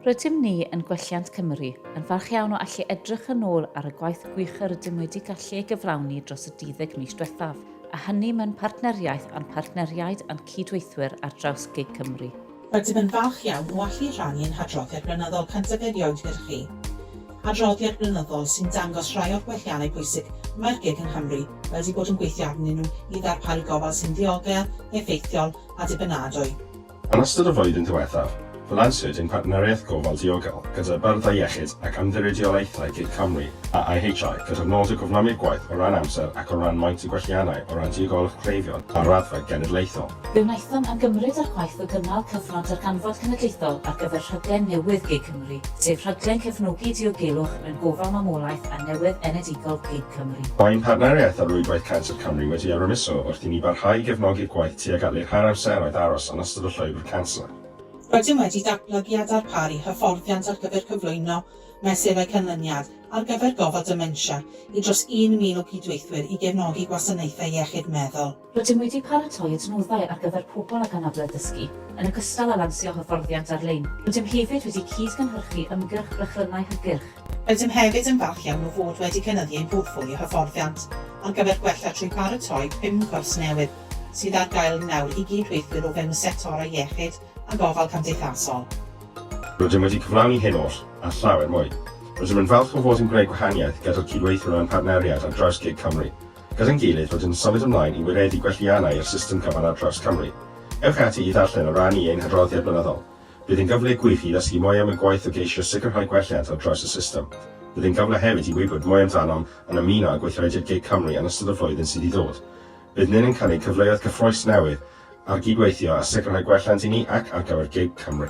Rydym ni yn Gwelliant Cymru yn falch iawn o allu edrych yn ôl ar y gwaith gwych yr ydym wedi gallu ei gyflawni dros y 12 mis diwethaf, a hynny mewn partneriaeth â'n partneriaid a'n cydweithwyr ar draws gig Cymru. Rydym yn falch iawn o allu rhannu ein hadroddiad blynyddol cyntaf erioed gyda chi. Adroddiad blynyddol sy'n dangos rhai o'r gwelliannau pwysig mae'r gig yng Nghymru wedi bod yn gweithio arnyn nhw i ddarparu gofal sy'n ddiogel, effeithiol a dibynadwy. Yn ystod y flwyddyn ddiwethaf, fe lansiwyd ein partneriaeth gofal diogel gyda Byrddau Iechyd ac Ymddiriedolaethau Gig Cymru a IHI gyda'r nod o gyflymu'r gwaith o ran amser ac o ran maint y gwelliannau o ran diogelwch cleifion ar raddfa genedlaethol. Fe wnaethom ymgymryd â'r gwaith o gynnal cyfnod darganfod cenedlaethol ar gyfer rhaglen newydd gig Cymru, sef rhaglen cefnogi diogelwch mewn gofal mamolaeth a newydd enedigol gig Cymru. Mae'n partneriaeth â Rhwydwaith Canser Cymru wedi arwyddiso wrth i ni barhau i gefnogi'r gwaith tuag at leihau'r amseroedd aros yn ystod y llwybr canser. Rydym wedi datblygu a darparu hyfforddiant ar gyfer cyflwyno mesurau canlyniad ar gyfer gofal dementia i dros 1,000 o gydweithwyr i gefnogi gwasanaethau iechyd meddwl. Rydym wedi paratoi adnoddau ar gyfer pobl ag anabledd dysgu, yn ogystal â lansio hyfforddiant ar-lein. Rydym hefyd wedi cyd-gynhyrchu ymgyrch Brechlynnau Hygyrch. Rydym hefyd yn falch iawn o fod wedi cynyddu ein portffolio hyfforddiant ar gyfer gwella trwy baratoi pum cwrs newydd sydd ar gael nawr i gyd-weithwyr o fewn y sectorau iechyd a gofal cymdeithasol. Rydym wedi cyflawni hyn oll, a llawer mwy. Rydym yn falch o fod yn gwneud gwahaniaeth gyda'r cyd-weithiwr a'n partneriaid ar draws gig Cymru. gyda'n gilydd fod yn symud ymlaen i wireddu gwelliannau i'r system cyfan ar draws Cymru. Ewch ati i ddarllen o ran i ein hadroddiad blynyddol. Bydd yn gyfle gwych i ddysgu mwy am y gwaith o geisio sicrhau gwelliant ar draws y system. Bydd yn gyfle hefyd i wybod mwy amdanom yn ymuno â gweithrediad gig Cymru yn ystod y flwyddyn sydd i ddod. Bydd nyn yn cynnig cyfleoedd cyffrous newydd ar gydweithio a sicrhau gwelliant i ni ac ar gyfer gig Cymru.